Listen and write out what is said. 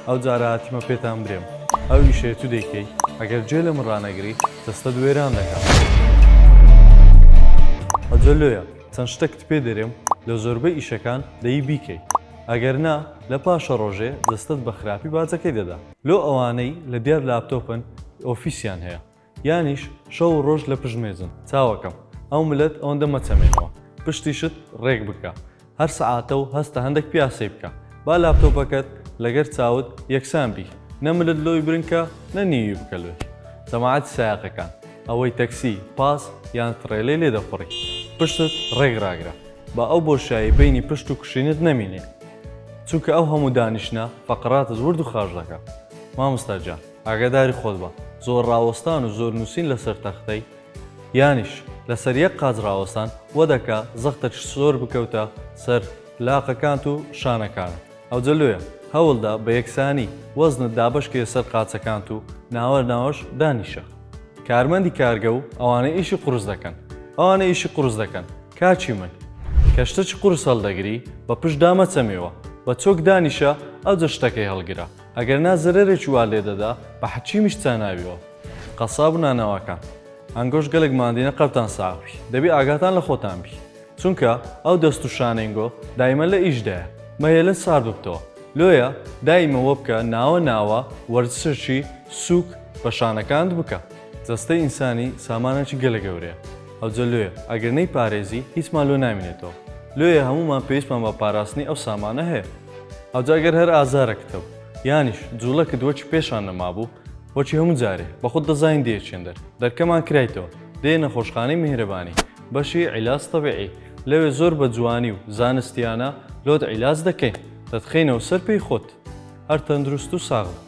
ئەو جارە هاتیمە پێتان برێم ئەو ئیشەی تو دەیکەی ئەگەر جوێ لە من ڕانەگری جەستەت وێران دەکەم ئەجە لۆیە چەند شتەکت پێ دەرێم لە زۆربەی ئیشەکان دەی بیکەی ئەگەر نا لە پاشە ڕۆژێ جەستەت بە خراپی باجەکەی دەدا لۆ ئەوانەی لە دیار لاپتۆپن ئۆفیسیان هەیە یانیش شەو و ڕۆژ لە پشت مێزن چاوەکەم ئەو ملت ئەوەندە مەچەمێنەوە پشتی شت ڕێک بکە هەر سەعاتە و هەستە هەندەک پیاسەی بکە با لاپتۆپەکەت لەگەر چاوت یەکسان بی نە ملت لۆی برنکە نە نیوی بکە لۆی جەماعەتی سایەقەکان ئەوەی تەکسی پاس یان تڕێلەی لێ دەخوڕی پشتت ڕێک ڕاگرە با ئەو بۆشایی بینی پشت و کوشینت نەمینێ چونکە ئەو هەموو دانیشتنە فەقراتت ورد و خاش دەکا مامۆستا گیان. ئاگاداری خۆت بە، زۆر ڕاوەستان و زۆر نووسین لەسەر تەختەی، یانیش لەسەر یەک قاچ ڕاوەستان، وەدەکا زەختت زۆر بکەوتە سەر لاقەکانت و شانەکانت. ئەوجە لۆیە هەوڵدە بە یەکسانی وەزنت دابەشکەیە سەر قاچەکانت و ناوە ناوەش دانیشە. کارمەندی کارگە و ئەوانەی ئیشی قورس دەکەن. ئەوانەی ئیشی قورس دەکەن، کاکی من! کە شتەکی قورس هەڵدەگری، بە پشتدا مەچەمێوە، بە چۆک دانیشە، ئەوجە شتەکەی هەڵگرە. ئەگەر نا زەرەرێکی وا لێ دەدا بە حەچی میش چاناویەوە قەساب و نانەواکان ئەنگۆش گەلەک ماندینە قەبتان ساغ بی دەبی ئاگاتان لە خۆتان بی چونکە ئەو دەست و شانینگۆ دایمە لە ئیش دایە مەهێلن سار ببتەوە لۆیە دایمە وەبکە ناوە ناوە وەرزشی سوک بە شانەکانت بکە. جەستەی ئینسانی سامانەکی گەلە گەورەیە ئەوجە لۆیە ئەگەر نەیپارێزی هیچمان لۆ نامینێتەوە لۆیە هەموومان پێویستمان بە پاراستنی ئەو سامانە هەیە ئەوجا گەر هەر ئازارەکتە و یانیش جوڵەکت وەکی پێشان نەمابوو وەکی هەموو جارێ بە خۆت دەزانی دێچێن دەر دەرکەمان کرایتەوە دێ نەخۆشخانەی میهرەبانی بەشی عیلاج تەبیعی لەوێ زۆر بە جوانی و زانستیانە لۆت عیلاج دەکەین دەتخەینەوە سەر پێی خۆت هەر تەندروست و ساغ بی.